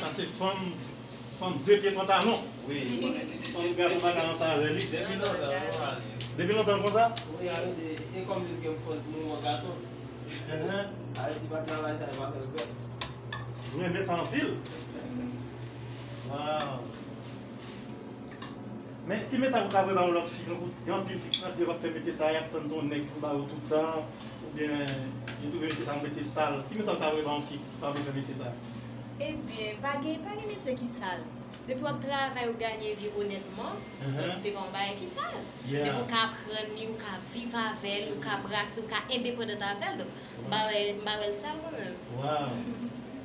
Sa se fanm Fanm de pye pantalon Fanm gad ou pa ka ranse avè li Depi lontan l konsa E kòm li gen fòs mouvman gason Alè si pa travay sa yo pa fè l bèl Mwen renmen sa anpil Waww Men ki mesaj ou ka voye ba yon lòt fi tankou gen anpil fi ki santi yo pap fè metye sa yap tann son nèg pou ba yo tout tan oubyen yo twouve metye sa yon metye sal ki mesaj ou ta voye ba yon fi ki pa vle fè metye sa. Ebyen pa gen pa gen metye ki sal depi wap travay ou ganye vi onètman donk se pa yon bagay ki sal depi ou ka aprann li ou ka viv avèl ou ka brase ou ka endepandant avèl donk m pa wè m pa wèl sal mwen menm. Waw.